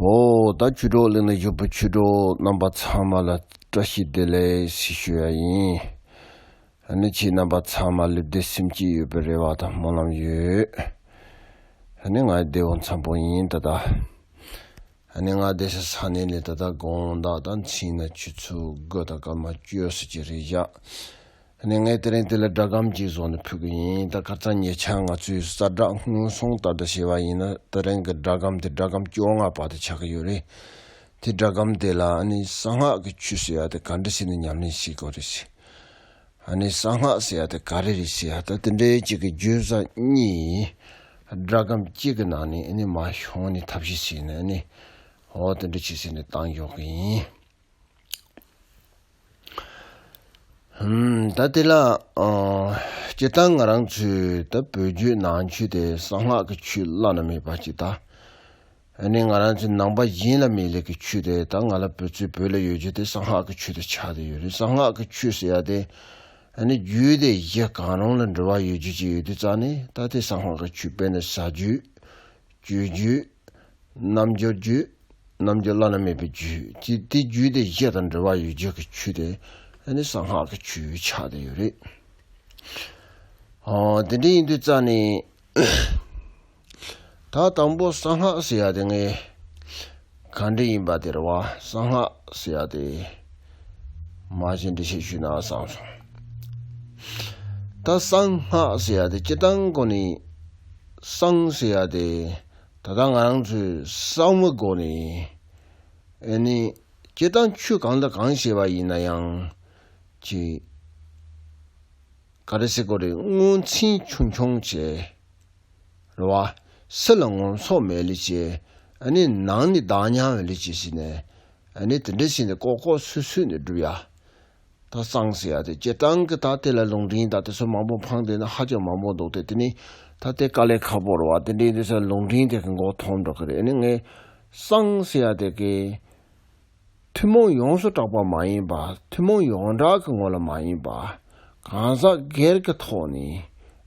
ཧོ། ད་བཅུ་དྲུག་གླེང་ན་བཞུགས་པ་ཆོས་དྲུག་རྣམ་པ་ཚང་མ་ལ་བཀྲ་ཤིས་བདེ་ལེགས་ཞུ་ཡ་ཡིན། ཨ་ནི་ཁྱེད་རྣམ་པ་ཚང་མ་ལེབ་བདེ་སེམས་སྐྱིད་ཡོད་པའི་རེ་བ་དང་སྨོན་ལམ་ཡོད། ཨ་ནི་ང་བདེ་བོ་འཚམས་པོ་ཡིན་ད་ལྟ། ཨ་ནི་ང་བདེ་ས་ས་ནས་ལས་ད་ལྟ་དགོངས་དག་དང་མཚིན་ན་ཆུ་ཚོད་དགུ་ད་སྐར་མ་བཅོས་སུ་ཅི་རེད་བཞག་ནས་ངས་དེ་རིང་དེ་ལ་སྒྲ་སྒམ་གྱིས་བཟོ་ནས་ཕུད་ཀྱི་ཡིན་ད་གར་ཚ་ཉེ་ཆར་ང་ཚོས་གསར་བསྒྲགས་སྔོན་སོང་ལྟར་དང་ཞེས་པ་ཡིན་ན་དེ་རིང་གི་སྒྲ་སྒམ་དེ་སྒྲ་སྒམ་བཅོ་ལྔ་པ་དེ་ཆགས་ཀྱི་ཡོད་རེད་དེ་སྒྲ་སྒམ་དེ་ལ་ཨ་ནི་གསང་སྔགས་ཀྱི་ཆོས་ཟེར་ཡ་དེ་ག་འདྲ་ཞིག་ནི་ཉམས་ལེན་ཞིག་གོ་རེ་ཞིག་ཨ་ནི་གསང་སྔགས་ཟེར་ཡ་དེ་ག་རེ་རེ་ཞིག་ཨ་ད་དེ་འདྲའི་གཅིག་གི་བརྗོད་བཟའ་གཉིས་ཡིན་སྒྲ་སྒམ་གཅིག་གི་ནང་ནས་ཨ་ནི་མ་ཤོང་ནི་ཐབས་ཤེས་བྱས་ནས་ཨ་ནི་འོ་དེ་འདྲ་བྱས་ཟེར་ནས་བཏང་འཇོག་གི་ཡིན། ད་དེ་ལ་སྤྱིར་བཏང་ང་རང་ཚོའི་ད་བོད་བརྒྱུད་ནང་ཆོས་དེ་གསང་སྔགས་ཀྱི་ཆོས་བླ་ན་མེད་པ་གཅིག་དང། ནི་ང་རང་ཚོའི་ནང་པ་གཞན་ལ་མེད་ལས་ཀྱི་ཆོས་དེ་ད་ང་ལ་བོད་ཚུལ་བོད་ལ་ཡོད་རྒྱུ་དེ་གསང་སྔགས་ཀྱི་ཆོས་དེ་ཆགས་བསྡད་ཡོད་རེད་གསང་སྔགས་ཀྱི་ཆོས་ཟེར་ཡ་དེ། ནི་རྒྱུད་སྡེ་བཞི་གང་རུང་ལ་འབྲེལ་བ་ཡོད་རྒྱུ་གཅིག་ཡོད་དུས་ཙང་ནི་ད་དེ་གསང་སྔགས་ཀྱི་ཆོས་དཔེ་ནི་ཟ་རྒྱུད། རྒྱུའི་རྒྱུད། རྣམ་འགྱུར་རྒྱུད། རྣམ་འགྱུར་བླ་ན་མེད་པའི་རྒྱུད་ཀྱི་དེ་རྒྱུད་དེ་བཞི་དང་འབྲེལ་བ་ཡོད་རྒྱུད་ཀྱི་ཆུ་དེ་ནི་གསང་སྔགས་ཀྱི་ཆུའི་ཆ་དེ་ཡོད་རེད། དེ་འདྲ་ཡིན་དུས་རྩ་ནས། ད་དང་པོ་གསང་སྔགས་ཟེར་ཡ་དེ་ངའི། གང་འདྲི་ཡིན་པ་དེར་བ་གསང་སྔགས་ཟེར་བ་དེ། མ་གཞི་འདྲི་ཤེས་ཞུས་ན་བཟང་སོང། ད་གསང་སྔགས་ཟེར་བ་དེ་སྤྱི་གཏང་གོ་ནི། གསང་ཟེར་བ་དེ་ད་ལྟ་ང་རང་ཚོས་གསང་བའི་སྒོ་ནས། འོན་ནི་སྤྱི་གཏང་ཆོས་གང་དང་གང་ཞེས་བ་ཡིན་ན་ཡང་ཅི། ག་རེ་སེ་གོ་རེ་སྔོན་ཚིན་ཆུང་ཆུང་བྱས། ལ། སེ་ལ་ངོམ་སོགས་མེད་ལས་ཆེ། ནང་ནི་བདག་ཉམས་བས་ལས་ཆེ་ཞེས་ནས། དེ་འདྲ་བྱས་ནས་ལྐོག་ལྐོག་སུད་སུད་ནས་བསྒྲུབ་ཡ། ད་གཙང་སེ་ཡ་དེ་སྤྱིར་བཏང་གི་ད་དེ་ལ་ལུང་འདྲེན་ད་དེ་ཚོ་མང་པོ་འཕངས་དེ་ནི་ཧ་ཅང་མང་པོ་འདུག་སྟེ་དེ་ནི་ད་དེ་དཀའ་ལས་ཁ་པོར་བ་དེ་འདྲའི་དེ་ཚོ་ལུང་འདྲེན་དེ་གི་མགོ་ཐོག་འགྲོ་གི་རེད་ནི་ངས་གཙང་སེ་ཡ་དེ་གི། ཐུན་མོང་ཡོངས་སུ་གྲགས་པ་མ་ཡིན་པ་ཐུན་མོང་ཡོངས་གྲགས་ཀྱི་ངོ་ལ་མ་ཡིན་པ། གང་ཟག་སྒེར་གྱི་ཐོག་ནས་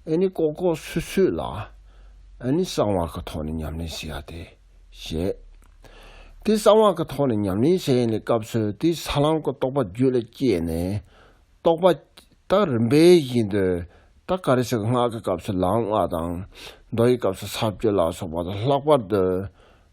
ཨེ་ནི་ལྐོག་ལྐོག་སུད་སུད་ལ་ཨེ་ནི་གསང་བ་གི་ཐོག་ནས་ཉམས་ལེན་བྱེད་ཡ་སྟེ། ཞེས། དེ་གསང་བ་གི་ཐོག་ནས་ཉམས་ལེན་བྱེད་ཡ་ནི་སྐབས་སུད་དེའི་ས་ལམ་གྱི་རྟོགས་པ་རྒྱུད་ལ་སྐྱེས་ནས་རྟོགས་པ། ད་རིམ་པས་བཞིན་དུ་ད་ག་རེ་ཞིག་སྔགས་ཀྱི་སྐབས་སུ་ལམ་སྔགས་དང། མདོ་ཡི་སྐབས་སུ་ས་བཅུ་ལ་སོགས་པ་དང་ལྷག་པར་དུ།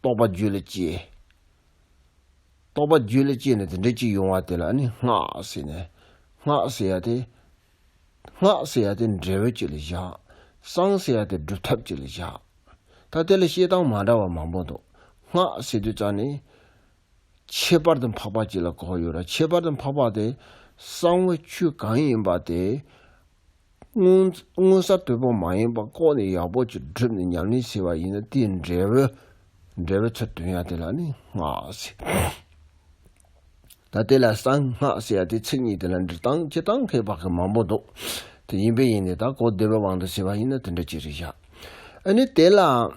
རྟོག་པ་རྒྱུད་ལ་སྐྱེས། རྟོག་པ་རྒྱུད་ལ་སྐྱེས་ནས་དེ་འདྲའི་གཅིག་ཡོང་བ་དེ་ལ་ནི་སྔགས་ཟེར་ནས། སྔགས་ཟེར་ཡ་དེ། སྔགས་ཟེར་ཡ་དེ་འབྲས་བུ་གཅིག་ལ་བཞག། གསང་ཟེར་ཡ་དེ་སྒྲུབ་ཐབས་གཅིག་ལ་བཞག། ད་དེ་ལ་བཤད་སྟངས་མ་འདྲ་བ་མང་པོ་འདུག་སྔགས་ཟེར་དུས་རྩ་ནི། ཁྱད་པར་དུ་འཕགས་པ་གཅིག་ལ་གོ་ཡོད་ར་ཁྱད་པར་དུ་འཕགས་པ་དེ་གསང་བའི་ཆོས་གང་ཡིན་པ་དེ། དངོས་ས་དོད་པོ་མ་ཡིན་པ་ལྐོག་ནས་ཡག་པོ་གཅིག་བསྒྲུབས་ནས་ཉམས་ལེན་བྱས་པ་ཡིན་ན་དེའི་འབྲས་བུ། འབྲས་བུ་ཚུར་དོན་ཡང་དེ་ལ་ནི་སྔགས་ཟེར། ད་དེ་ལ་གསང་སྔགས་ཟེར་ཡང་དེ་ཚིག་གཉིས་དེ་ལ་འབྲི་སྟངས་སྤྱི་སྟངས་ཁའི་བག་གི་མང་པོ་འདུག་དེ་ཡིན་པས་ཡིན་ནས་ད་གོ་བདེ་བའི་དབང་དུ་བྱས་པ་ཡིན་ན་དེ་འདྲ་གཅིག་རེ་བཞག་ཨ་ནི་དེ་ལའང།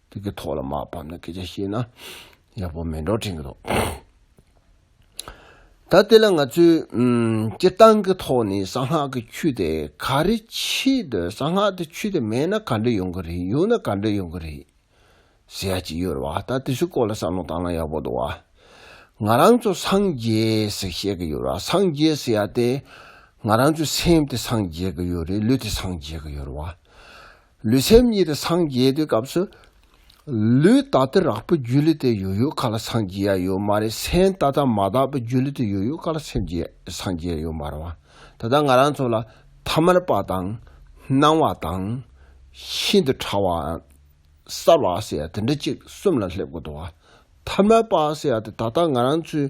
དེ་གི་ཐོག་ལ་མ་བབས་ན་སྐད་ཆ་བཤད་ན་ཡག་པོ་མེད་འགྲོ་དྲན་གི་འདུག་ད་དེ་ལ་ང་ཚོས་སྤྱིར་བཏང་གི་ཐོག་ནས་གསང་སྔགས་ཀྱི་ཆོས་དེ་ག་རེ་ཆེད་དུ་གསང་སྔགས་དེ་ཆོས་དེ་མེད་ན་ག་འདྲ་ཡོང་གི་རེད་ཡོད་ན་ག་འདྲ་ཡོང་གི་རེད་ཟེར་ཡ་ཅིག་ཡོད་རེད་བ་ད་དེ་ཚོའི་སྐོར་ལ་བསམ་བློ་བཏང་ན་ཡག་པོ་འདུག་བ། ང་རང་ཚོ་སངས་རྒྱས་ཟེར་བཤད་གི་ཡོད་རེད་བ་སངས་རྒྱས་ཟེར་ཡ་དེ་ང་རང་ཚོའི་སེམས་དེ་སངས་རྒྱས་གི་ཡོད་རེད་ལུས་དེ་སངས་རྒྱས་གི་ཡོད་རེད་བ། ལུས་སེམས་གཉིས་དེ་སངས་རྒྱས་དེ་སྐབས་སུ། ལུས་ད་ལྟ་རགས་པའི་རྒྱུ་ལས་དེ་ཡོད་ཡོད་ག་ལ་སངས་རྒྱས་ཡ་ཡོད་མ་རེད་སེམས་ད་ལྟ་མ་དག་པའི་རྒྱུ་ལས་དེ་ཡོད་ཡོད་ག་ལ་སེམས་རྒྱས་སངས་རྒྱས་ཡ་ཡོད་མ་རེད་བ། ད་ལྟ་ང་རང་ཚོ་ལ་ཐ་མལ་པ་དང། སྣང་བ་དང། ཤིན་ཏུ་ཕྲ་བ། གསར་བ་ཟེར་ཡ་དེ་འདྲ་གཅིག་གསུམ་ལ་སླེབས་དགོས་འདུག་བ། ཐ་མལ་པ་ཟེར་ཡ་དེ་ད་ལྟ་ང་རང་ཚོའི་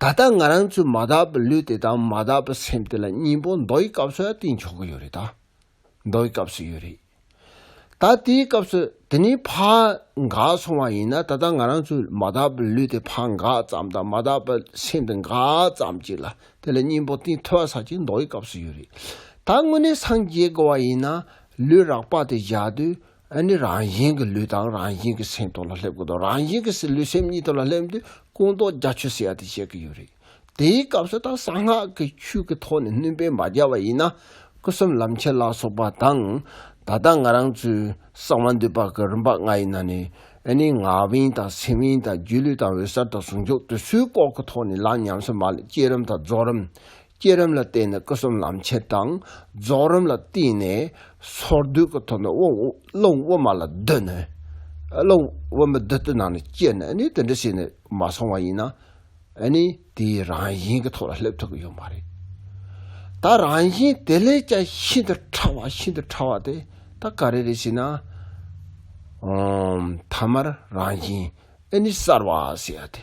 ད་ལྟ་ང་རང་ཚོའི་མ་དག་པའི་ལུས་དེ་དང་མ་དག་པའི་སེམས་དེ་ལ་སྙིང་པོ་མདོ་ཡི་སྐབས་སུ་ཡང་དེ་འཇོག་གི་ཡོད་རེད་ད། མདོ་ཡི་སྐབས་སུ་ཡོད་རེད། ད་དེའི་སྐབས་སུ་དེ་ནི་ཕག་འགག་སོང་བ་ཡིན་ན་ད་ལྟ་ང་རང་ཚོའི་མ་དག་པའི་ལུས་དེ་ཕག་འགག་ཙམ་དང་མ་དག་པའི་སེམས་དེ་འགག་ཙམ་གཅིག་ལ་དེ་ལ་སྙིང་པོ་དེ་ཐོས་ས་གཅིག་མདོ་ཡི་སྐབས་སུ་ཡོད་རེད། ད་དངོས་གནས་སངས་རྒྱས་དགོས་བ་ཡིན་ན་ལུས་རགས་པ་དེ་བཞག་དུས་ཨ་ནི་རང་བཞིན་གྱི་ལུས་དང་རང་བཞིན་གྱི་སེམས་སྟོང་ལ་སླེབས་དགོས་དོ། རང་བཞིན་གྱི་ལུས་སེམས་གཉིས་སྟོང་ལ་སླེབས་དུས་ཀུན་རྟོག་རྒྱ་ཆོད་སེ་ཡ་དེ་བཤད་ཀྱི་ཡོད་རེད། དེའི་སྐབས་སུ་དང་གསང་སྔགས་ཀྱི་ཆོས་ཀྱི་ཐོག་ནས་བསྣུན་པས་མ་བརྒྱ་བ་ཡིན་ན་སྐུ་གསུམ་ལམ་ཆེན་ལ་སོགས་པ་དང། ད་ལྟ་ང་རང་ཚོས་གསང་བ་འདུས་པ་ཀྱི་རིམ་པ་ལྔ་ཡི་ནང་ནས་ཨ་ནི་ངག་དབྱིངས་དང་སེམས་དབྱིངས་དང་རྒྱུད་ལུས་དང་འོད་གསལ་དང་ཟུང་འཇུག་དུས་ཚོད་སྐོར་གྱི་ཐོག་ནས་ལམ་ཉམས་སུ་མ་སླེབས་སྐྱེས་རིམ་དང་རྫོགས་རིམ། སྐྱེད་རིམ་ལ་བརྟེན་ནས་སྐུ་གསུམ་ལམ་ཆེན་དང། རྫོགས་རིམ་ལ་བརྟེན་ནས་སོར་སྡུད་ཀྱི་ཐོག་ནས་སློབ་དབུ་མ་ལ་བསྡུ་ནས། སློབ་དབུ་མ་བདུད་རྩི་ནང་ནས་བསྐྱེད་ནས་ནི་དེ་འདྲ་བྱས་ནས་མ་སོང་བ་ཡིན་ན། ནི་དེའི་རང་བཞིན་གྱི་ཐོག་ལ་སླེབས་ཐུབ་ཀྱི་ཡོད་མ་རེད། ད་རང་བཞིན་དེ་ལས་ཀྱང་ཤིན་ཏུ་ཕྲ་བ་ཤིན་ཏུ་ཕྲ་བ་དེ་ད་ག་རེ་རེད་ཞེ་ན། ཐ་མར་རང་བཞིན་ནི་གསར་བ་ཟེར་ཡ་དེ།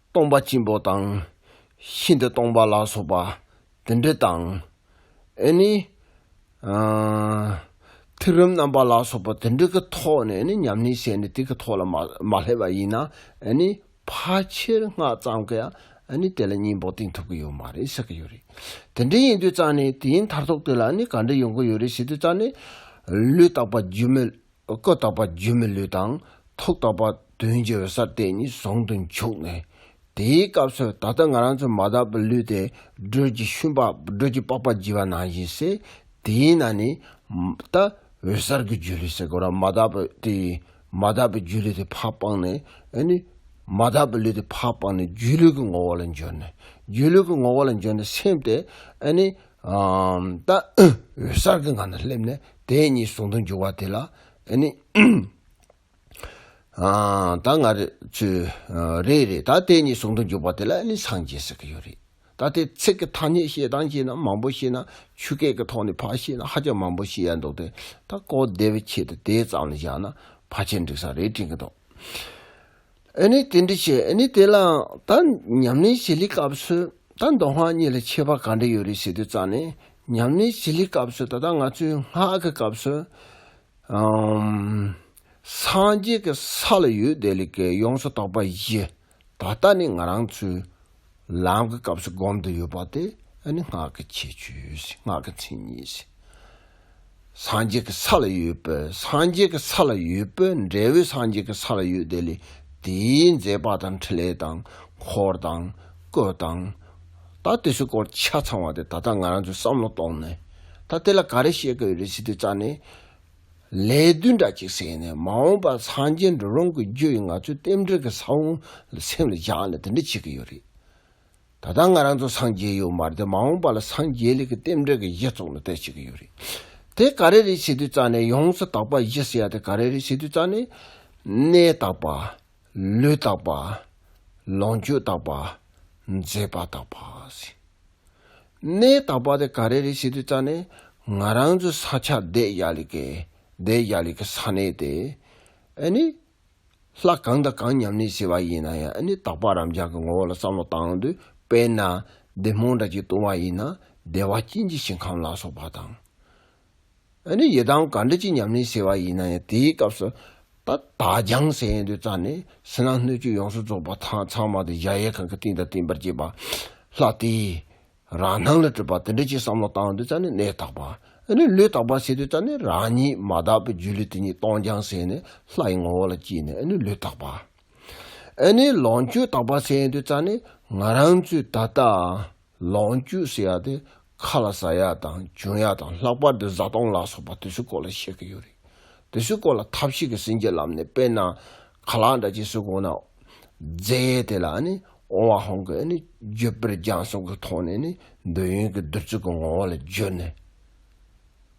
སྟོང་པ་སྐྱེས་བུ་དང། ཤིན་ཏུ་སྟོང་པ་ལ་སོགས་པ་དེ་འདྲ་དང། ཨེ་ནི། ཐིག་རིམ་རྣམ་པ་ལ་སོགས་པ་དེ་འདྲ་གི་ཐོག་ནས་ནི་ཉམས་ལེན་བྱས་ནས་དེ་གི་ཐོག་ལ་མ་སླེབས་པ་ཡིན་ན་ཨེ་ནི། ཕལ་ཆེར་སྔགས་གཙང་གི་ཨེ་ནི་དེ་ལ་སྙིང་བོ་བསྟན་ཐུབ་ཀི་ཡོད་མ་རེད་བསགས་ཀི་ཡོད་རེད། དེ་འདྲ་ཡིན་དུས་གཙང་ནས་དེའི་མཐར་ཐུག་དེ་ལ་ནི་ག་འདྲ་ཡོང་གི་ཡོད་རེད་ཞེ་དུས་གཙང་ནས་ལུས་རྟག་པ་སྒྱུ་མའི་ཀུན་བརྟགས་པ་སྒྱུ་མའི་ལུས་དང་ཐུགས་བརྟགས་པ་དོན་སྦྱོར་བའི་སར་དེ་གཉིས་ཟུང་དུ་འཇུག་ནས། དེའི་སྐབས་སུ་ད་ལྟ་ང་རང་ཚོ་མ་དག་པའི་ལུས་དེ་སྒྲོལ་གྱི་ཤུན་པགས་སྒྲོལ་གྱི་པགས་པ་བགྱི་བ་ནང་བཞིན་སེ། དེའི་ནང་ནས། ད་འོད་གསལ་གྱི་སྒྱུ་ལུས་སེ་གོ་ར་མ་དག་པའི་དེ། མ་དག་པའི་སྒྱུ་ལུས་དེ་ཕ་སྤངས་ནས། ཨེ་ནི། མ་དག་པའི་ལུས་དེ་ཕ་སྤངས་ནས་སྒྱུ་ལུས་ཀྱི་ངོ་བོ་ལ་འབྱོར་ནས། སྒྱུ་ལུས་ཀྱི་ངོ་བོ་ལ་འབྱོར་ནས་སེམས་དེ། ཨེ་ནི། ལྟ། འོད་གསལ་གྱི་ངང་ལ་སླེབས་ནས་དེ་ཉིད་ཟུང་དུ་འཇུག་པ་དེ་ལ་ནི། ད་ང་རེ་ཆུ། རེད་རེད་ད་དེ་ཉིད་ཟུང་དུ་འཇུག་པ་དེ་ལ་ནི་སངས་རྒྱས་ཟེར་གྱི་ཡོད་རེད། ད་དེ་ཚིག་གི་ཐ་སྙད་བཤད་སྟངས་བྱས་ན་མང་པོ་ཤེས་ན་ཆུ་སྐད་ཀྱི་ཐོག་ནས་ཕར་བཤད་ན་ཧ་ཅང་མང་པོ་ཤེས་ཡ་འདུག་དེ་ད་གོ་བདེ་བའི་ཆེད་དུ་དེ་ཙམ་ལ་བཞག་ན་ཕ་ཆེར་འགྲིག་ས་རེད་དྲན་གྱི་འདུག། ཨེ་ནི་དེ་འདྲ་བྱེད་ཨེ་ནི་དེ་ལའང་ད་ཉམས་ལེན་བྱེད་ལེའི་སྐབས་སུ་ད་མདོ་སྔགས་གཉིས་ལ་ཁྱད་པར་ག་འདྲ་ཡོད་རེད་ཟེར་དུས་རྩ་ནས་ཉམས་ལེན་བྱེད་ལེའི་སྐབས་སུ་ད་ལྟ་ང་ཚོའི་སྔགས་ཀྱི་སྐབས་སུ། སངས་རྒྱས་ཀྱི་ས་ལ་ཡོད་བསྡད་ལས་ཀྱི་ཡོངས་སུ་རྟོག་པ་བཞི། ད་ལྟ་ནི་ང་རང་ཚོའི། ལམ་གྱི་སྐབས་སུ་བསྒོམ་དུ་ཡོད་པ་དེ་ནི་སྔགས་ཀྱི་ཁྱད་ཆོས་སྔགས་ཀྱི་མཚན་ཉིད། སངས་རྒྱས་ཀྱི་ས་ལ་ཡོད་པས་སངས་རྒྱས་ཀྱི་ས་ལ་ཡོད་པས་འབྲས་བུ་སངས་རྒྱས་ཀྱི་ས་ལ་ཡོད་དེ་ལས་དེའི་མཛད་པ་དང་འཕྲིན་ལས་དང་འཁོར་དང་སྐུ་དང། ད་དེ་ཚོའི་སྐོར་ཆ་ཚང་བ་དེ་ད་ལྟ་ང་རང་ཚོས་བསམ་བློ་གཏོང་ནས་ད་དེ་ལ་ག་རེ་བཤད་དགོས་རེད་ཟེར་དུས་རྩ་ནས་ལས་བདུན་འདྲ་གཅིག་བསྲེས་ནས་མ་འོངས་པར་སངས་རྒྱས་འགྲོ་ལོང་གི་རྒྱུ་ཡིས་ང་ཚོའི་རྟེན་འབྲེལ་གྱི་ས་བོན་ལ་སེམས་ལ་སྦྱངས་ནས་དེ་འདྲ་བྱེད་ཀྱི་ཡོད་རེད། ད་ལྟ་ང་རང་ཚོ་སངས་རྒྱས་ཡོད་མ་རེད་མ་འོངས་པ་ལ་སངས་རྒྱས་ལས་ཀྱི་རྟེན་འབྲེལ་གྱི་གཞི་བཙུགས་ནས་བལྟས་བྱེད་ཀྱི་ཡོད་རེད། དེ་ག་རེ་རེད་བྱེད་དུས་རྩ་ནས་ཡོངས་སུ་དག་པ་བཞི་ཟེར་ཡ་དེ་ག་རེ་རེད་བྱེད་དུས་རྩ་ནས། ནས་དག་པ། ལུས་དག་པ། ལོངས་སྤྱོད་དག་པ། མཛེས་པ་དག་པ། གནས་དག་པ་དེ་ག་རེ་རེད་ཞེས་དུས་བརྩ་ནས། ང་རང་ཚོའི་ས་ཆ་བདེ་ཡག་ལེགས་ཀྱི་བདེ་ཡག་ལེགས་ཀྱི་ས་གནས་དེ། ཨཱ་ནི། ལྷ་གང་དང་གང་ཉམས་ལེན་བྱས་པ་ཡིན་ན་ཡང་ཨཱ་ནི་དག་པ་རབ་འབྱམས་ཀྱི་ངོ་བོ་ལ་བསམ་བློ་བཏང་དུས་དཔེར་ན། བདེ་སྨོན་འདྲ་གཅིག་བཏུང་བ་ཡིན་ན་བདེ་བ་སྐྱིད་འཇིགས་ཞིང་ཁམས་ལ་སོགས་པ་དང། ཨ་ནི་ཡི་དམ་ག་འདྲི་ཅི་ཉམས་ལེན་ཟེར་བ་ཡིན་ན་ཡང་དེའི་སྐབས་སུ། ད་ད་རྒྱང་ཟེར་ཡས་འདོད་རྩ་ནས་ཟིན་ན་སྣོད་བཅུད་ཡོངས་སུ་རྫོགས་པ་ཐང་ཚང་མ་དེ་བཞག་ཡས་ཁང་གི་སྟེང་དང་བརྟེན་པར་བཅས་པ། ལྷ་དེས་རང་སྣང་ལ་སྤྲུལ་པ་དེ་འདྲ་ཅིག་བསམ་བློ་བཏང་འདོད་རྩ་ནས་གནས་དག་པ། ཨ་ནི་ལུས་དག་པ་ཟེར་འདོད་རྩ་ནས་རང་ཉིད་མ་དག་པའི་རྒྱུ་ལུས་དེ་ཉིད་སྟོང་རྒྱང་ཟེར་ནས་ལྷ་ཡི་ངོ་བོ་ལ་བསྐྱིལ་ནས་ཨ་ནི་ལུས་དག་པ། ཨ་ནི་ལོངས་སྤྱོད་དག་པ་ཟེར་འདོད་རྩ་ནས་ང་རང་ཚོའི་ད་ལྟ། ལོངས་སྤྱོད་ཟེར་ཡག་དེ་ཁ་ལ་ཟ་ཡག་དང་འཇོན་ཡག་དང་ལྷག་པར་དུ་བཟའ་བཏུང་ལ་སོགས་པ་དུས་ཚོད་སྐོར་ལ་བཤད་གི་ཡོད་རེད། དུས་ཚོད་སྐོར་ལ་ཐབས་ཤེས་ཀྱི་སེམས་ཀྱི་ལམ་ནས་དཔེར་ན། ག་ལ་འདྲ་ཅེས་སུས་དགོངས་ན། རྫས་དེ་ལ་ནི་ཨོང་བ་ཧོང་གི་ནི་རྒྱུ་དཔེར་སྦྱངས་གསུང་གི་ཐོག་ནས་ནི་འདོད་ཡོན་གྱི་བདུད་རྩི་གི་ངོ་བོ་ལ་བརྗོད་ནས།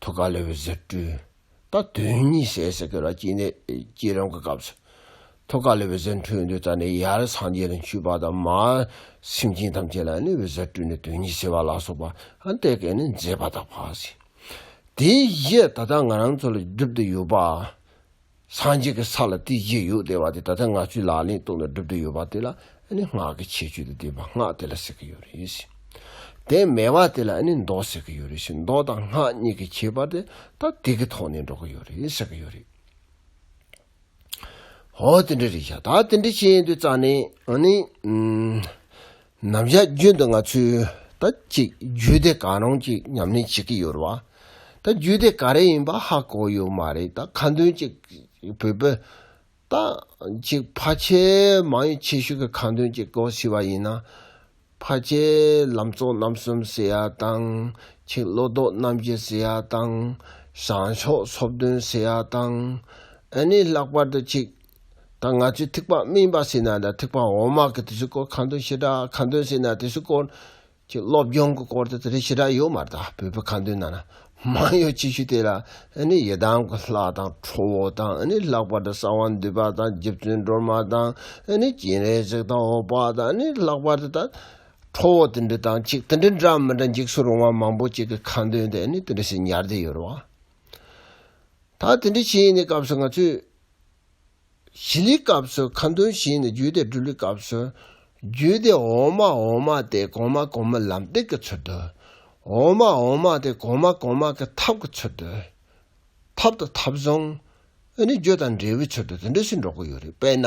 ཐུགས་ཀ་ལེ་བའི་ཟེར་སྤྲུལ། ད་དོན་གཉིས་ཟས་ཟེར་སྐད་ལ་སྐྱིད་ནད་སྐྱིད་རང་གི་སྐབས་སུ། ཐུགས་ཀ་ལེ་བའི་ཟེར་འཕྲོས་འདོད་ད་ནི་ཡར་སངས་རྒྱས་ལ་འཁྱུད་པ་དང་མར་སེམས་ཅན་ཐམས་ཅད་ལ་གནོད་པའི་ཟེར་སྤྲུལ་ནི་དོན་གཉིས་ཟེར་བ་ལ་སོགས་པ་འདི་སྐད་ནི་མཛད་པ་དག་བག་ཟིན། དེའི་གཞི་ད་ལྟ་ང་རང་ཚོ་ལ་སྒྲུབ་ཏུ་ཡོད་པ། སངས་རྒྱས་ཀྱི་ས་ལ་དེའི་རྗེས་ཡོད་དེ་བ་དེ་ད་ལྟ་ངག་ཆུའི་ལག་ལེན་སྟོང་ནས་བསྒྲུབ་འདོད་ཡོད་པ་དེ་ལ་ནི་སྔགས་ཀྱི་ཆེ་བརྗོད་དུ་བསྡུས་པ་སྔགས་དེ་ལ་ཟེར་གྱི་ཡོད་རེད་ཟེར། དེ་མེད་པ་དེ་ལ་ནི་མདོ་ཟེར་གྱི་ཡོད་རེད་ཟེར་མདོ་དང་སྔགས་གཉིས་ཀྱི་ཁྱད་པར་དེ་ད་དེ་གི་ཐོག་ནས་འགྲོ་གི་ཡོད་རེད་ཟེར་གྱི་ཡོད་རེད། ཧོ་དེ་འདྲ་རེད་བྱ་ད་དེ་འདྲ་བྱས་ཡིན་དུས་རྩ་ནས་ནི། ནམ་ཞག་རྒྱུན་དུ་ང་ཚོས་ད་ཅིག་རྒྱུད་སྡེ་གང་རུང་ཅིག་ཉམས་ལེན་བྱེད་ཀྱི་ཡོད་རེད་བ། ད་རྒྱུད་སྡེ་ག་རེ་ཡིན་པ་ཧ་གོ་ཡོད་མ་རེད་ད་ཁ་འདོན་ཅིག་བོད་པོ། ད་ཅིག་ཕ་ཆེ་མང་ཡོད་ཆེ་ཤོས་ཀྱི་ཁ་འདོན་ཅིག་གོ་ཟེར་བ་ཡིན་ན། ཕ་ཆེ་ལམ་གཙོ་རྣམ་གསུམ་ཟེར་ཡ་དང། ཆིག་བློ་ལྡོག་རྣམ་བཞི་ཟེར་ཡ་དང། བྱང་ཕྱོགས་ཚོགས་བདུན་ཟེར་ཡ་དང། ཨ་ནི་ལྷག་པར་དུ་ཆིག་ད་ང་ཚོས་ཐིགས་པ་སྨིན་པ་ཟེར་ན་དང་ཐིགས་པ་འོ་མ་གི་དེ་ཚོའི་སྐོར་ཁ་འདོན་ཞེ་དྲག་ཁ་འདོན་ཟེར་ན་དེ་ཚོའི་སྐོར་གྱི་སློབ་སྦྱོང་གི་སྐོར་དེ་དེ་རིགས་ཞེ་དྲག་ཡོད་མ་རེད་བོད་པའི་ཁ་འདོན་ནང་ན་མང་ཡོད་ཅིག་ཤོས་དེ་ལ་ནི་ཡི་དམ་གྱི་ལྷ་དང་ཁྲོ་བོ་དང་ནི་ལྷག་པར་དུ་གསང་བ་འདུས་པ་དང་རྗེ་བཙུན་སྒྲོལ་མ་དང་ནི་སྤྱན་རས་གཟིགས་དང་འོག་པ་དང་ནི་ལྷག་པར་དུ་དང་ཁྲོ་བོ་དེ་འདྲ་དང་ཅིག་དེ་འདྲ་འདྲ་མི་འདྲ་འཇིགས་སུ་རུང་བ་མང་པོ་ཅིག་གི་ཁ་འདོན་དེ་ནི་དེ་འདྲ་ཞིག་ཉར་བསྡད་ཡོད་རེད་བ། ད་དེ་འདྲ་བྱས་ནས་སྐབས་སུ་ང་ཚོས་བཞི་ལི་སྐབས་སུ་ཁ་འདོན་བཞི་ནི་རྒྱུད་སྡེ་དྲུག་ལི་སྐབས་སུ། རྒྱུད་སྡེ་འོག་མ་འོག་མ་སྟེ་གོང་མ་གོང་མའི་ལམ་སྟེགས་ཀྱི་ཚུལ་དུ། འོག་མ་འོག་མ་སྟེ་གོང་མ་གོང་མ་གི་ཐབས་ཀྱི་ཚུལ་དུ། ཐབས་དང་ཐབས་བཟང། ཨོ་ནི་རྒྱུ་དང་འབྲས་བུའི་ཚུལ་དུ་དེ་འདྲ་ཞིག་འགྲོ་གི་ཡོད་རེད་དཔེར་ན་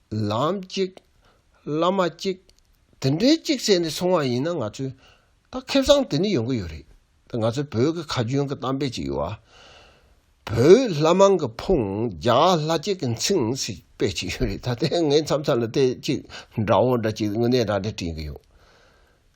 ལམ་གཅིག། བླ་མ་གཅིག། དེ་འདྲའི་གཅིག་བྱས་ནས་སོང་བ་ཡིན་ན་ང་ཚོས་ད་ཁེ་བཟང་དེ་ནི་ཡོང་གི་ཡོད་རེད་དེ་ང་ཚོའི་བོད་ཀྱི་ཁ་རྒྱུན་གྱི་གཏམ་དཔེ་ཅིག་ཡོད་ཨ། བོད་ལྷ་མང་གི་ཕུང་རྒྱ་ལྷ་གཅིག་གི་མཚིང་ཞེས་དཔེ་ཅིག་ཡོད་རེད་ད་ལྟའི་ངའི་མཚམས་མཚམས་ལ་དེ་གཅིག་འདྲ་བོ་འདྲ་གཅིག་དངོས་གནས་རང་འདྲ་བྲིས་ཀྱི་ཡོད།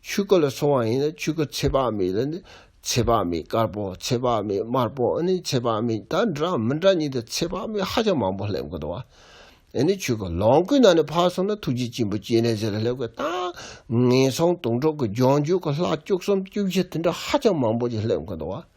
ཆུ་དཀར་ལ་སོང་བ་ཡིན་ན་ཆུ་དཀར་ཚེ་དཔག་མེད་ལ་ནི་ཚེ་དཔག་མེད་དཀར་པོ་ཚེ་དཔག་མེད་དམར་པོ་ཨ་ནི་ཚེ་དཔག་མེད་ད་འདྲ་མི་འདྲ་གཉིས་དང་ཚེ་དཔག་མེད་ཧ་ཅང་མང་པོ་སླེབས་དགོས་འདུག་བ་ཨེ་ནི་ཆུ་དཀར་ལོངས་སྐུའི་ནང་ནས་འཕགས་སོང་ན་ཐུགས་རྗེ་ཆེན་པོ་སྐྱེས་གནས་ཟེར་ལ་སླེབས་དགོས་ད་ངན་སོང་དུང་གྲོགས་ཀྱི་ལྗོངས་རྒྱུ་ག་ལྷག་བཅུ་གསུམ་བཅུ་བཞི་དེ་འདྲ་ཧ་ཅང་མང་པོ་ཅིག་སླེབས་དགོས་འདུག་བ།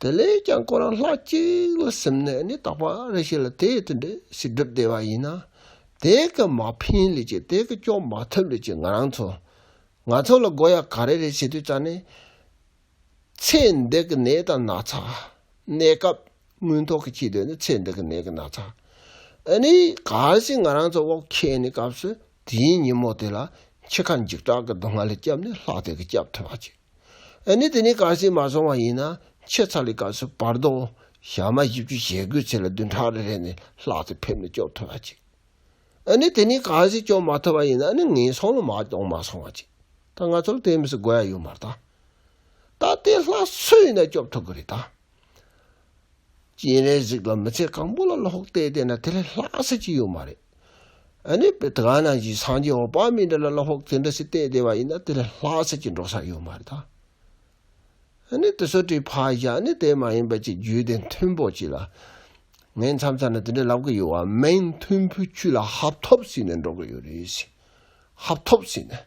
དེ་ལས་ཀྱང་ཁོ་རང་ལྷ་གཅིག་ལ་སེམས་ནས་ནི་དག་པ་རེ་ཤིག་ལ་དེའི་དོན་དུ་ཞིག་བསྒྲུབ་བདེ་བ་ཡིན་ན། དེ་གི་མ་ཕན་ལས་ཀྱི་དེ་གི་སྐྱོབ་མ་ཐུབ་ལས་ཀྱི་ང་རང་ཚོ། ང་ཚོ་ལ་དགོས་ཡ་ག་རེ་རེ་བྱེད་དུས་ཙང་ནི། ཚེ་འདི་གི་ནད་དང་ན་ཚ། གནས་སྐབས་དངོས་ཐོག་གི་ཁྱི་དོན་ནི་ཚེ་འདི་གི་ནད་གི་ན་ཚ། ཨ་ནི་ག་རེ་ཞིག་ང་རང་ཚོ་བོགས་ཁེངས་ནས་སྐབས་སུ་དེའི་ཉིན་མོ་དེ་ལ་ཁྱི་ཁ་འཇིགས་སྐྲག་གི་སྡུག་བསྔལ་ལས་སྐྱབས་ནས་ལྷག་བསྡད་གི་སྐྱབས་ཐོབ་བ་ཅི། ཨ་ནི་དེ་ནས་གར་སེང་མ་སོང་བ་ཡིན་ན་ཁྱོད་ཚར་ལི་སྐབས་སུ་བར་སྡོང་ཞག་མ་བཞི་བཅུ་ཞེ་དགུའི་ཚེ་ལ་བདུན་ཕྲག་རེ་རེ་ནས་ལྷག་ཏུ་ཕེབས་ནས་སྐྱོབ་ཐུབ་པ་ཅིག་ཨ་ནི་དེ་ནས་གར་སེང་སྐྱོབ་མ་ཐུབ་པ་ཡིན་ན་ཨ་ནི་ངན་སོང་ལ་མ་སྐྱོང་མ་སོང་བ་ཅིག་ད་ང་ཚོ་ལ་དེ་མི་སྲིད་དགོས་ཡ་ཡོད་མ་རེད་ད། ད་དེ་ལྷག་སུ་ཡིན་ན་སྐྱོབ་ཐུབ་གི་རེད་ད། སྤྱན་རས་གཟིགས་ལ་མི་ཚེ་གང་པོ་ལ་ལྷོག་བལྟས་བལྟས་ན་དེ་ལས་ལྷག་ས་ཅི་ཡོད་མ་རེད། ཨནི་བེ་ད་ག་ན་གཞི་སངས་རྒྱས་འོག་པག་མི་འདྲ་ལ་ལ་ཧོག་དེ་འདྲ་སི་བལྟས་བལྟས་བ་ཡིན་ན་དེ་ལས་ལྷག་ས་ཅི་འགྲོ་ས་ཡོད་མ་རེད་ད། ཨནི་དེ་སོ་དྲི་ཕག་བཞག་ཨནི་དེ་མ་ཡིན་པ་ཅིག་རྒྱུད་དེ་མཐུན་པོ་ཅིག་ལ། ངས་མཚམས་ཚར་ན་དེ་འདྲ་ལབ་གི་ཡོད་བ་མིན་མཐུན་ཕུ་ཁྱུད་ལ་ཧབ་ཐོབ་ཟིན་ནས་འགྲོ་གི་ཡོད་རེད་ཟེར། ཧབ་ཐོབ་ཟིན་ནས།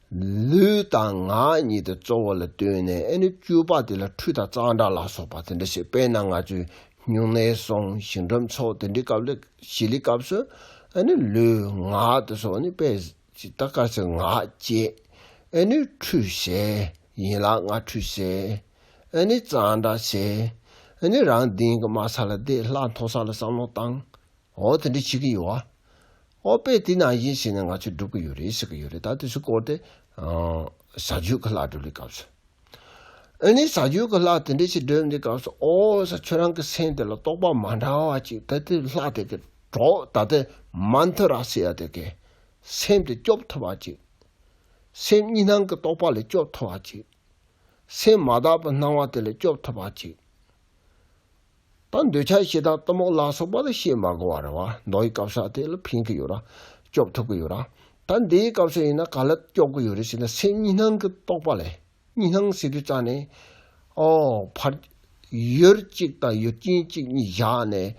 ལུས་དང་ངག་གཉིས་དེ་གཙོ་བོ་ལ་བཏོན་ནས་ཨེ་ནི་བཅུ་པ་དེ་ལ་ཁྲུས་དང་གཙང་སྦྲ་ལ་སོགས་པ་དེ་འདྲ་ཞིག་སྤེལ་ན་ང་ཚོས་སྨྱུང་གནས་སོང་ཞིང་འགྲམ་ཚོགས་དེ་འདྲའི་སྐབས་ལས་བྱེད་ལས་སྐབས་སུ་ཨེ་ནི་ལུས་ངག་དེ་སོགས་ནི་པས་ཅི་ད་ཀར་ཚེ་ངག་བཅད་ཨེ་ནི་ཁྲུས་བྱས་ཡིན་ལ་ངག་ཁྲུས་བྱས་ཨེ་ནི་གཙང་སྦྲ་བྱས་ཨེ་ནི་རང་དེང་གི་དམའ་ས་ལ་བསྡད་སླ་མཐོ་ས་ལ་བསམ་བློ་བཏང་འོ་དེ་འདྲ་བྱེད་ཀྱི་ཡོད་ཨ། ཨོ་དཔེ་དེ་ནང་བཞིན་བྱས་ན་ང་ཚོས་སྒྲུབ་ཀྱི་ཡོད་རེད་ཟེར་གྱི་ཡོད་རེད་ད་དེ་ཚོའི་སྐོར་དེ། ཟ་ཇུས་ཀྱི་ལྷ་སྒྲུབ་ལེའི་སྐབས་སུ། ཨོ་ནི་ཟ་ཇུས་ཀྱི་ལྷ་དེ་འདྲ་ཞིག་སྒྲུབ་འདིའི་སྐབས་སུ་ཨོ། ས་ཁྱོད་རང་གི་སེམས་དེ་ལ་རྟོག་པ་མ་འདྲ་བ་ཅིག་ད་དེ་ལྷ་དེ་གི་གྲོགས་ད་དེ་མ་མཐུ་ར་སི་ཡ་དེ་གི། སེམས་དེ་སྐྱོབ་ཐུབ་པ་ཅིག། སེམས་གཉིས་སྣང་གི་རྟོག་པ་ལས་སྐྱོབ་ཐུབ་པ་ཅིག། སེམས་མ་དག་པའི་སྣང་བ་དེ་ལས་སྐྱོབ་ཐུབ་པ་ཅིག། དང་འདོད་ཆགས་ཤེས་དང་གཏི་མུག་ལ་སོགས་པ་ལ་ཤེས་མ་གོ་བར་བ་མདོ་ཡི་སྐབས་སུ་ཨ་དེ་ལ་ཕན་གི་ཡོད་ར། སྐྱོབ་ཐུབ་གི་ཡོད་ར། ད་འདི་ཡི་སྐབས་སུ་ཡིན་ན་ག་ལ་སྐྱོབ་གི་ཡོད་རེད་ཟེར་ན་སེམས་གཉིས་སྣང་གི་རྟོག་པ་ལས་གཉིས་སྣང་ཟེར་དུས་རྩ་ནས། ཨོ། ཕར། ཡོད་གཅིག་དང་ཡོད་རྐྱེན་གཅིག་གཉིས་བཞག་ནས་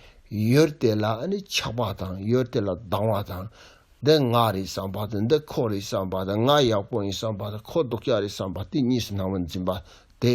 ཡོད་དེ་ལ་ཨ་ནི་ཆགས་པ་དང་ཡོད་དེ་ལ་སྡང་བ་དང། འདི་ང་རེད་བསམ་པ་དང་འདི་ཁོ་རེད་བསམ་པ་དང་ང་ཡག་པོ་ཡིན་བསམ་པ་དང་ཁོ་སྡུག་ཅག་རེད་བསམ་པ་དེ་གཉིས་སུ་སྣང་བར་འཛིན་པ་དེ།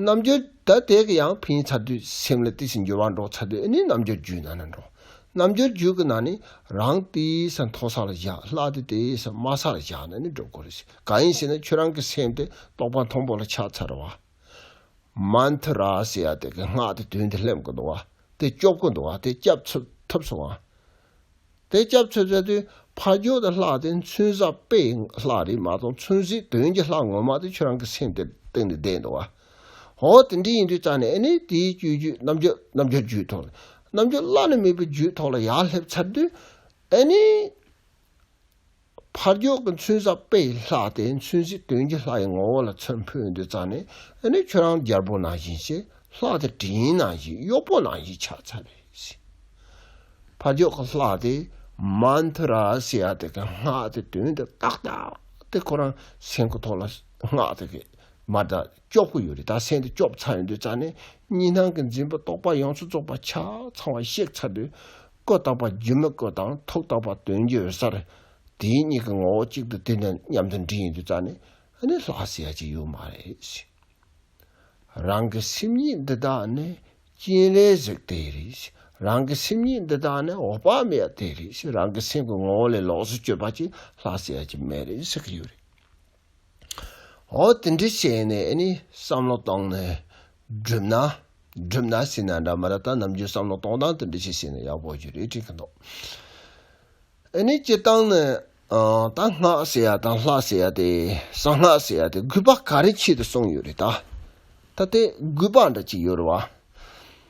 རྣམ་འགྱུར་བདའ་འདེད་ཀྱི་ཡང་ཕན་ཡིན་ཚར་དུས་སེམས་ལ་དེ་བཞིན་འགྱུར་བ་འགྲོ་ཚར་དུས་ཨེ་ནི་རྣམ་འགྱུར་རྒྱུད་ནང་ན་འགྲོ། རྣམ་འགྱུར་རྒྱུད་ཀྱི་ནང་ནས་རང་དེའི་སར་མཐོ་ས་ལ་བཞག་ལྷག་དེ་དེའི་སར་དམའ་ས་ལ་བཞག་ན་ནི་འགྲོ་དགོས་རེད། གང་ཡིན་ཞེ་ན་ཁྱོད་རང་གི་སེམས་དེ་རྟོག་པ་མཐོན་པོ་ལ་ཆགས་ཚར་བ། མནྟྷ་ར་ཟེ་ཡ་དེ་གི་སྔགས་དེ་དོན་དེ་སླེབས་དགོས་འདུག་བ། དེ་སྐྱོབ་དགོས་འདུག་བ་དེ་སྐྱབས་ཐུབ་སོང་བ། དེ་སྐྱབས་འཚོལ་མཛད་དུས་ཕ་རྒྱུད་དུ་ལྷགས་ཏེ་མཚུན་བཟའ་དཔེ་ལྷ་རིས་མ་དང་མཚུན་བཟའི་དོན་གྱི་ལྷ་ངོ་མ་དེ་ཁྱོད་རང་གི་སེམས་དེར་གཏིང་ནས་བསྡད་འདུག་བ། ཧོ་དེ་འདྲས་ཡིན་དུས་རྩ་ནས་ཨེ་ནས་དེའི་བཅུད་རྒྱུད་རྣམ་རྒྱལ་རྣམ་རྒྱལ་རྒྱུད་ཐོག་ནས་རྣམ་རྒྱལ་བླ་ན་མེད་པའི་རྒྱུད་ཐོག་ལ་ཡར་སླེབས་ཚར་དུས་ཨེ་ནས། ཕར་རྒྱུག་གི་མཚོན་ས་དཔེའི་ལྷ་སྟེ་མཚོན་གཞི་དོན་གྱི་ལྷ་ཡི་ངོ་བོ་ལ་མཚོན་འཕོས་འདི་རྩ་ནས་ཨ་ནི་ཁྱོད་རང་རྒྱལ་པོ་ནང་བཞིན་ཆེ་ལྷ་སྟེ་དྲིན་ཡིན་ནང་བཞིན་གཡོག་པོ་ནང་བཞིན་ཕྱག་འཚལ་བས་ཤིག། ཕར་རྒྱུག་གི་ལྷ་སྟེ་མཱན་དྷུ་ར་སི་ཡ་དེ་གའི་སྔགས་དེ་དོན་དུ་ཏག་ཏག་སྟེ་ཁོ་རང་སེང་གི་ཐོག་ལ་སྔགས་དེ་གའི་མར་དང་སྐྱོབ་གི་ཡོད་རེད་ད་སེང་དེ་སྐྱོབ་ཚར་ཡོད་འདི་རྩ་ནས་གཉིས་སྣང་གི་འཛིན་པ་རྟོག་པ་ཡོངས་སུ་རྫོགས་པ་ཆ་ཚང་བ་གཤེགས་ཚར་དུས་ཀུན་བརྟགས་པ་རྒྱུན་མི་གོས་དང་ཐུགས་བརྟགས་པ་དོན་རྒྱུད་འོད་གསལ། དེའི་གཉིས་ཀྱི་ངོ་བོ་གཅིག་ཏུ་དེ་འདྲ་མཉམ་དུ་འདྲིས་ཡིན་དུས་རྩ་ནས་ནི་ལྷག་བསལ་ཡ་གཅིག་ཡོད་མ་རེད། རང་གི་སེམས་ཉིད་འདི་དག་ནི་སྤྱན་རས་གཟིགས་དེ་རེད། རང་གི་སེམས་ཉིད་འདི་དག་ནི་འོག་པ་མེ་ཡ་དེ་རེད། རང་གི་སེམས་ཀྱི་ངོ་བོ་ལས་ལོགས་སུ་བསྐྱོད་པ་གཅིག་ལྷག་བསལ་ཡ་གཅིག་མེད་རེད་ཟེར་གྱི་ཡོད་རེད། ཨོ་དེ་འདྲ་བྱས་ནས་བསམ་བློ་བཏང་ནས་བསྒྲུབ་ན་བསྒྲུབ་ན་ཟེར་ན་འདྲ་མ་ད་ལྟ་ནམ་རྒྱུན་བསམ་བློ་གཏོང་སྟངས་དེ་འདྲ་བྱས་ཟེར་ན་ཡག་པོ་ཞིག་རེད་དྲན་གྱི་འདུག་ཨནི་སྤྱིར་བཏང་ནི་ད་སྔགས་ཟེར་ཡ་དང་ལྷ་ཟེར་ཡ་དེ་གསང་སྔགས་ཟེར་ཡ་དེ་རྒུད་པ་ག་རེ་ཆེད་དུ་གསུངས་ཡོད་རེད་ད་ད་དེ་རྒུད་པ་འདྲ་གཅིག་ཡོད་རེད་བ།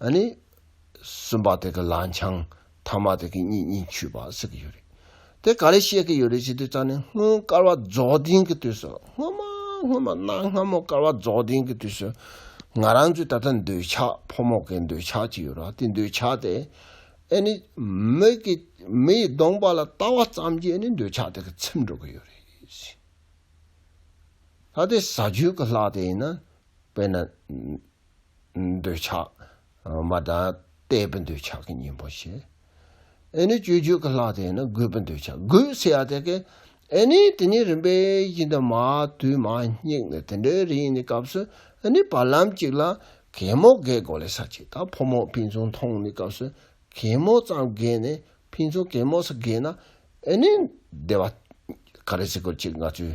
ཨ་ནི། གསུམ་པ་དེ་གི་ལང་ཆང། ཐ་མ་དེ་གི་གཉིས་གཉིས་ཆུད་པ་ཟེར་གི་ཡོད་རེད། དེ་ག་ལས་བཤད་ཀི་ཡོད་རེད་ཅེས་དུས་ཙང་ནས་སྔོན་སྐར་བ་རྫོགས་ལྡན་གི་དུས་སུ་སྔོན་མ་སྔོན་མ་གནའ་སྔ་མོ་སྐར་བ་རྫོགས་ལྡན་གི་དུས་སུ་ང་རང་ཚོའི་ད་ལྟ་འདོད་ཆགས་ཕོ་མོ་གི་འདོད་ཆགས་ཅིག་ཡོད་ར་དེ་འདོད་ཆགས་དེ་ཨེ་ནི། མི་གི་མི་ཡི་གདོང་པ་ལ་ལྟ་བ་ཙམ་གྱིས་ཨེ་ནི་འདོད་ཆགས་དེ་གི་ཚིམས་འགྲོ་གི་ཡོད་རེད། ད་དེ་ཟ་རྒྱུ་གི་ལྷག་དེ་ཡིན་ན་དཔེར་ན། འདོད་ཆགས་མ་དང། ལྟས་པའི་འདོད་ཆགས་ཀྱི་གཉེན་པོ་ཞེས། ཨེ་ནི་སྤྱོད་རྒྱུད་ཀྱི་ལྷག་དེས་ན་རྒོད་པའི་འདོད་ཆགས་རྒོད་ཟེར་ཡ་དེ་ཀས། ཨེ་ནི་དེ་ཉིད་རིམ་པས་ཡིན་ཏེ་མ་དུལ་མ་སྙེགས་ནས་དེ་འདྲའི་རིགས་ཡིན་ནི་སྐབས་སུ་ནི་བར་ལམ་གཅིག་ལ། གད་མོ་བགད་གོ་ལའི་ས་གཅིག་དང་ཕོ་མོ་ཕིན་ཚུན་མཐོང་ནི་སྐབས་སུ་གད་མོ་ཙམ་བགད་ནས་ཕིན་ཚུན་གད་མོ་ས་བགད་ན། ཨེ་ནི་བདེ་བ། ག་རེ་ཟེ་གོ་གཅིག་ང་ཚོའི་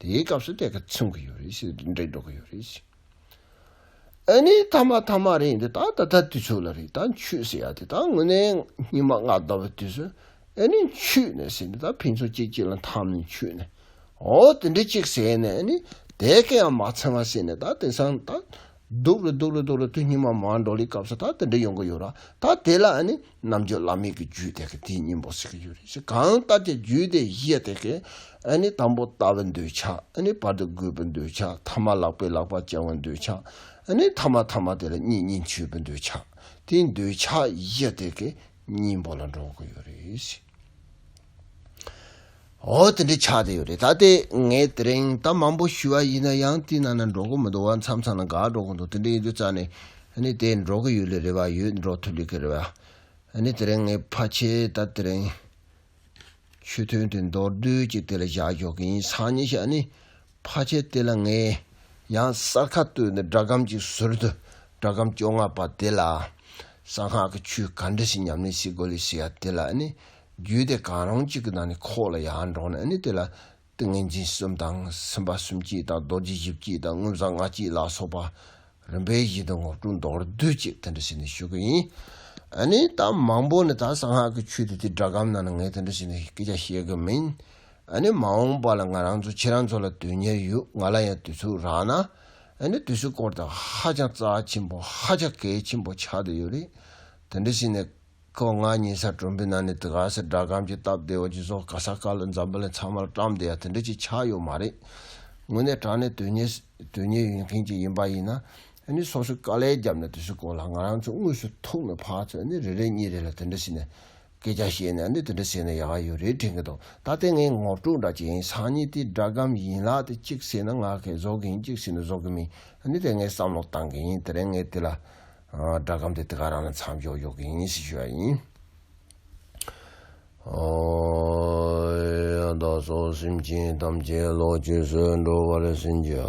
དེའི་སྐབས་སུ་དེ་ག་ཚུན་གྱི་ཡོད་རེད་ཞེས་འབྲེལ་འདྲེས་འགྲོ་གི་ཡོད་རེད། ཨ་ནི་ཐ་མ་ཐ་མ་རེད་འདི་ད་ད་ད་དུས་ཚོད་ལ་རེད་ད་འཆུས་ཟེར་ཡག་དེ་ད་དངོས་གནས་ཉི་མ་ལྔ་བཟླ་བའི་དུས་སུ་ཨ་ནི་འཆུས་ནས་ཟེར་ནས་ད་ཕན་ཚུན་གཅིག་གཅིག་ལ་འཐམ་ནས་འཆུས་ནས་ཨོ་དེ་འདྲས་གཅིག་ཟེར་ནས་ཨ་ནི་དེ་ག་ཡང་མ་ཚང་བ་ཟེར་ནས་ད་དེང་སང་ད་སྡུག་རུ་སྡུག་རུ་སྡུག་རུ་དུས་སྙིགས་མ་མང་འགྲོ་ལི་སྐབས་སུ་ད་དེ་འདྲ་ཡོང་གི་ཡོད་ར་ད་དེ་ལ་ནི་རྣམ་དཔྱོད་བླ་མེད་ཀྱི་རྒྱུད་དེ་གི་དེའི་སྙིང་པོ་ཟེར་གྱི་ཡོད་རེད་ཞེ་གང་ལྟར་ཀྱི་རྒྱུད་དེ་བཞི་དེ་གི་ནི་དང་པོ་ལྟ་བུ་འདོད་ཆགས་ནི་བར་དུ་རྒུད་པོ་འདོད་ཆགས་ཐ་མ་ལག་པའི་ལག་པ་བཅང་བོ་འདོད་ཆགས་ནི་ཐ་མ་ཐ་མ་དེ་ལ་གཉིས་གཉིས་འཆོས་པོ་འདོད་ཆགས་དེའི་འདོད་ཆགས་བཞི་དེ་གི་སྙིང་པོ་ལ་འགྲོ་གི་ཡོད་རེད། འོ་དེ་འདྲའི་ཆགས་ཏེ་ཡོད་རེད་ད་ལྟའི་ངས་དེ་རིང་གཏམ་མང་པོ་ཞུས་པ་ཡིན་ན་ཡང་དེ་ནང་ན་འགྲོ་གི་མི་འདུག་བ་མཚམས་མཚམས་ན་དགའ་འགྲོ་གི་འདུག་དེ་འདྲའི་ཡིན་དུས་རྩ་ནས་དེ་འགྲོ་གི་ཡོད་ལེ་རེད་བ་ཡོད་འགྲོ་ཐུབ་ལེ་གི་རེད་བ། དེ་རིང་ངས་ཕ་ཁྱེད་ད་དེ་རིང་ཆོས་ཐུན་དེ་མདོར་བསྡུས་ཀྱི་དེ་ལ་བཞག་འཇོག་གི་ཡིན་སང་ཉིན་ཞག་ནི་བྷ་ཆས་དེ་ལ་ངས་ཡང་གསར་ཁ་བཏོད་ནས་སྒྲ་སྒམ་གཅིག་ཟུར་དུ་སྒྲ་སྒམ་བཅོ་ལྔ་པ་དེ་ལ། གསང་སྔགས་ཀྱི་ཆོས་ག་འདྲ་ཞིག་ཉམས་ལེན་བྱེད་དགོས་ལེ་ཞེས་ཡ་དེ་ལ་ནི། རྒྱུད་སྡེ་གང་རུང་གཅིག་གི་ནང་ནས་ཁོག་ལ་ཡ་འདྲོག་ནས་ནི་དེ་ལ། ཏིང་ངེ་འཛིན་གསུམ་དང་སེམས་དཔའ་གསུམ་གཅིག་དང་རྡོ་རྗེ་བཞི་བསྐྱེད་དང་དངོས་བཟང་ལྔ་གཅིག་ལ་སོགས་པ། རིམ་པས་བཞི་དང་དགུ་དྲུག་མདོར་བསྡུས་ཅེས་དེ་འདྲ་བྱས་ནས་ཞུ་གི་ཡིན། ནི་ད་མང་པོ་ནི་ད་གསང་སྔགས་ཀྱི་ཆོས་དེ་དེ་སྒྲ་སྒམ་ནང་ནས་ངས་དེ་འདྲ་བྱས་ནས་སྐད་ཆ་བཤད་གི་མིན། ཨ་ནི་མ་འོངས་པ་ལ་ང་རང་ཚོ་ཁྱེད་རང་ཚོ་ལ་དོན་གཉེར་ཡོད་ང་ལ་ཡང་དུས་ཚོད་རག་ན་ཨ་ནི་དུས་ཚོད་སྐོར་དང་ཧ་ཅང་རྩ་ཆེན་པོ་ཧ་ཅང་གལ་ཆེན་པོ་ཆགས་བསྡད་ཡོད་རེད་དེ་འདྲ་བྱས་ནས་ཁོ་ང་གཉིས་སར་གྲོང་པའི་ནང་ནས་དེ་ག་སེ་སྦྲ་སྒམ་གྱི་སྟབས་བདེ་བ་ཅིག་བཟོ་ག་ས་ག་ལ་འཛམ་བུ་ལ་ཚང་མ་ལ་བཀྲམ་བསྡད་ཡ་དེ་འདྲ་ཅིག་ཆགས་ཡོད་མ་རེད་དངོས་གནས་དྲང་གནས་དོན་གཉེར་དོན་གཉེར་ཡོད་མཁན་ཅིག་ཡིན་པ་ཡིན་ན་ཨ་ནི་སོ་སོས་དཀའ་ལས་བརྒྱབ་ནས་དུས་ཚོད་སྐོར་ལ་ང་རང་ཚོ་དངོས་སུ་ཐུག་ནས་ཕར་ཚོད་ཨ་ནི་རེ་རེ་གཉིས་རེ་ལ་དེ་འདྲ་བྱས་ནས་སྐད་ཆ་བཤད་ན་ནི་དེ་འདྲ་བྱས་ན་ཡག་ཡོད་རེད་དྲན་གི་འདུག་ད་ལྟའི་ངའི་ངོར་དཀྲུག་འདྲ་བྱེད་ཡིན་སང་ཉིན་དེ་འདྲ་གམ་ཡིན་ལགས་ཏེ་གཅིག་བྱས་ན་ང་ཁེ་བཟོ་གི་ཡིན་གཅིག་བྱས་ན་བཟོ་གི་མིན་ནི་དེ་ངའི་བསམ་བློ་བཏང་གི་ཡིན་དེ་རིང་ངས་དེ་ལ་འདྲ་གམ་དེ་དེ་ག་རང་ལ་མཚམས་འཇོག་ཡོད་གི་ཡིན་ཞེས་ཞུ་བ་ཡིན། ཡང་དག་སོགས་སེམས་ཅན་ཐམས་ཅད་བློ་ཆོས་སུ་འགྲོ་བར་སེམས་ཀྱི།